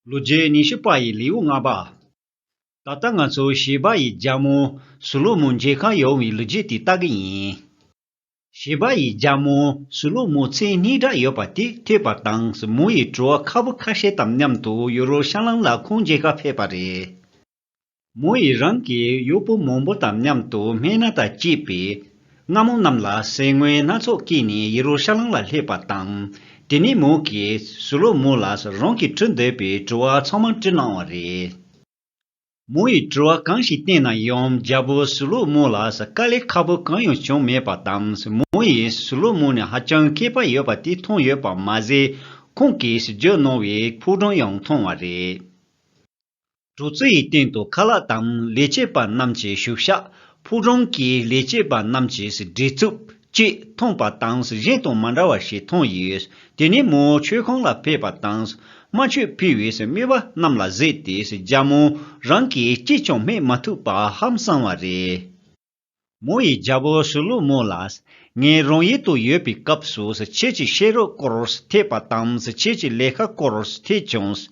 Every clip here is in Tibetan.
ལོ་རྒྱུས་ཉི་ཤུ་པ་ཡི་ལེའུ་ལྔ་པ། ད་ལྟ་ང་ཚོ་བྱིས་པ་ཡི་རྒྱ་མོ་སུ་ལུ་མོ་མཇལ་ཁ་ཡོང་བའི་ལོ་རྒྱུས་དེ་ལྟ་གི་ཡིན། བྱིས་པ་ཡི་རྒྱ་མོ་སུ་ལུ་མོ་མཚན་གཉིས་འདྲ་ཡོད་པ་དེ་ཐོས་པ་དང་སུ་མོ་ཡི་བྲོ་བ་ཁ་བོ་ཁ་ཤས་དང་མཉམ་དུ་ཡོ་རོ་ཤང་ལམ་ལ་ཁོང་མཇལ་ཁ་ཕེབས་པ་རེད། མོ་ཡིས་རང་གི་གཡོག་པོ་མང་པོ་དང་མཉམ་དུ་སྨན་སྣ་དང་བཅས་པས། རྔ་མོང་རྣམས་ལ་ཟས་དངོས་སྣ་ཚོགས་བསྐྱིས་ནས་ཡེ་རུ་ཤ་ལམ་ལ་སླེབས་པ་དང། དེ་ནས་མོ་གིས་སུ་ལོ་མོ་ལ་རང་གིས་དྲི་འདོད་པའི་དྲི་བ་ཚང་མ་དྲིས་གནང་བ་རེད། མོ་ཡིས་དྲི་བ་གང་ཞིག་བསྟན་ན་ཡང་རྒྱལ་པོ་སུ་ལོ་མོ་ལ་དཀའ་ལས་ཁག་པོ་གང་ཡང་བྱུང་མེད་པ་དང་མོ་ཡིས་སུ་ལོ་མོ་ནི་ཧ་ཅང་མཁས་པ་ཡོད་པ་དེ་མཐོང་ཡོད་པ་མ་ཟད་ཁོང་གིས་བརྗོད་གནང་བའི་ཕུགས་རྡང་ཡང་མཐོང་བ་རེད། གྲུ་རྩི་ཡི་སྟེང་དུ་ཁ་ལག་དང་ལས་བྱེད་པ་རྣམས་ཀྱི་བཞུགས་ཤག་ཕུག་རོན་གྱི་ལས་བྱེད་པ་རྣམས་ཀྱི་བྲེལ་འཚུབ་བཅས་མཐོང་པ་དང་གཞན་དང་མ་འདྲ་བ་ཞིག་མཐོང་ཡོད། དེ་ནས་མོ་མཆོད་ཁང་ལ་ཕེབས་པ་དང་རྨ་ཆུ་ཕུལ་བའི་རྨི་བ་རྣམས་ལ་གཟིགས་ཏེ་རྒྱ་མོ་རང་གིས་ཅིས་ཀྱང་སྨྲས་མ་ཐུབ་པ་ཧམ་སངས་བ་རེད། མོ་ཡི་རྒྱལ་པོ་སུ་ལུ་མོ་ལ། ངའི་རང་ཡུལ་དུ་ཡོད་པའི་སྐབས་སུ་ཁྱེད་ཀྱི་ཤེས་རོགས་སྐོར་ཐེག་པ་དང་ཁྱེད་ཀྱི་ལས་ཀ་སྐོར་ཐེག་བྱུང།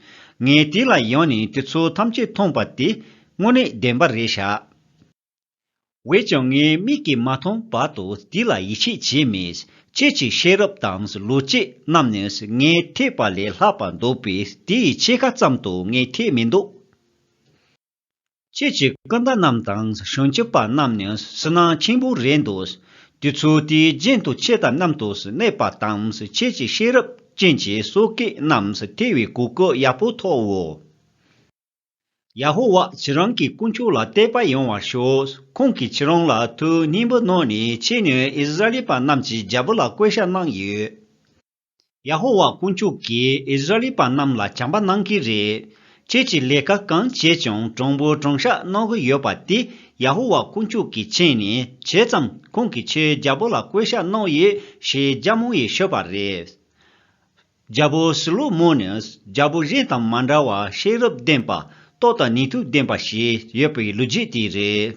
ངས་དེ་ལ་ཡང་ནས་དེ་ཚོ་ཐམས་ཅད་མཐོང་པ་དེ་དངོས་གནས་བདེན་པ་རེད་ཤག། འོས་ཀྱང་ངའི་མིག་གིས་མ་མཐོང་བར་དུ་དེ་ལ་ཡིད་ཆེས་བྱས་མེད། ཁྱེད་ཀྱི་ཤེས་རབ་དང་ལོ་ཅེས་རྣམས་ནི་ངའི་ཐེག་པ་ལས་ལྷག་པ་འདུག་པས་དེའི་ཕྱེད་ཀ་ཙམ་དུ་ངས་ཐེག་མི་འདུག། ཁྱེད་ཀྱི་སྐུ་ཟླ་རྣམས་དང་བྱང་ཆུབ་པ་རྣམས་ནི་སུན་སྣང་ཆེན་པོ་རེད་འདུག་དུས་ཚོད་དེའི་རྒྱུན་དུ་ཁྱེད་ལྟ་རྣམས་དུ་གནས་པ་དང་ཁྱེད་ཀྱི་ཤེས་རབ་ཅན་གྱི་སོ་སྐད་རྣམས་ཐོས་བའི་གོ་སྐབས་ཡག་པོ་ཐོབ་འོས། ཡ་ཧོ་ཝཱ་ཁྱེད་རང་གི་དཀོན་མཆོག་ལ་དད་པ་ཡོང་བར་ཤོག་ཁོང་གིས་ཁྱེད་རང་ལ་མཐུ་སྙིང་པོ་གནང་ནས་ཁྱེད་ནི་ཨིསི་རཱཨེལ་པ་རྣམས་ཀྱི་རྒྱལ་པོ་ལ་བསྐོས་བཞག་གནང་ཡོད། ཡ་ཧོ་ཝཱ་དཀོན་མཆོག་གིས་ཨིས་ར་ཨེལ་པ་རྣམས་ལ་བྱམས་པ་གནང་གི་རེད། ཁྱེད་ཀྱིས་ལས་ཀ་གང་བྱས་ཀྱང་གྲངས་འབོར་གྲངས་བཤགས་གནང་གི་ཡོད་པ་དེ་ཡ་ཧོ་ཝཱ་དཀོན་མཆོག་གི་མཆན་ནས་བྱས་ཙམ་ཁོང་གིས་ཁྱེད་རྒྱལ་པོ་ལ་བསྐོས་བཤགས་གནང་ཡོད་ཞེས་རྒྱ་མོ་ཡིས་ཤོད་པ་རེད། རྒྱལ་པོ་སི་ལོ་མོ་ནི་རྒྱལ་པོ་གཞན་དང་མ་འདྲ་བར་ཤེས་རབ་ལྡན་པ། རྟོགས་དང་ནུས་མཐུ་ལྡན་པ་ཞིག་ཡོད་པའི་ལོ་རྒྱུས་དེ་རེད།